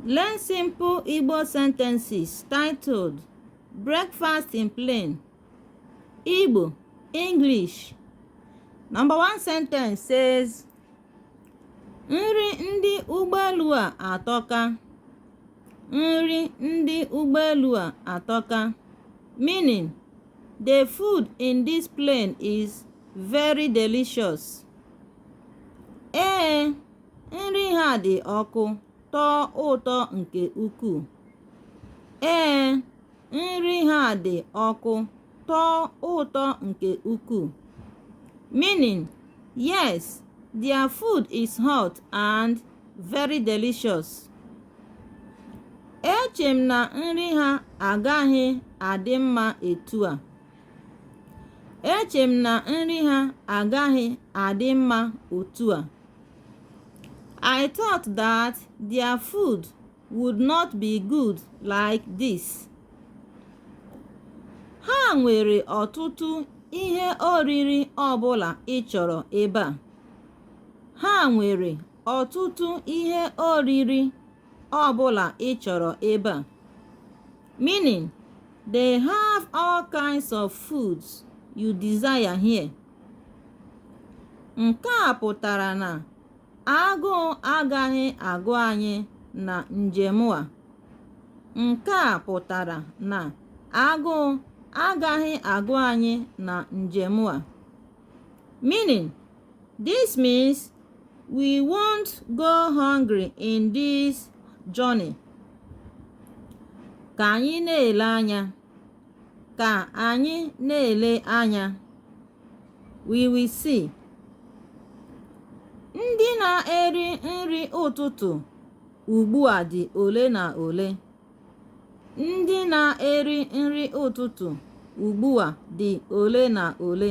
Learn simple Igbo sentences titled Breakfast in Plane Igbo English. Number one sentence says Nri ndị ụgbọelu a atọka. Nri ndị ụgbọelu a atọka. Meaning, the food in this plane is very delicious. Ee. Nri ha dị ọkụ, tọọ ụtọ nke ukwuu. Ee, nri ha dị ọkụ, tọọ ụtọ nke ukwuu. Meaning, yes, their food is hot and very delicious. Eche m na nri ha agaghị adị mma etu a. Eche m na nri ha agaghị adị mma otu a. I thought that their food would not be good like this. Ha nwere ọtụtụ ihe oriri ọbụla ị chọrọ ebe a. Ha nwere ọtụtụ ihe oriri ọbụla ị chọrọ ebe a. Meaning, they have all kinds of foods you desire here. Nke a pụtara na agụụ agaghị agụ anyị na njem a. Nke a pụtara na agụụ agaghị agụ anyị na njem a. Meaning, this means we won't go hungry in this journey. Ka anyị na-ele anya. ka anyị na-ele anya we will see ndị na-eri nri ụtụtụ ugbu a dị ole na ole ndị na-eri nri ụtụtụ ugbu a dị ole na ole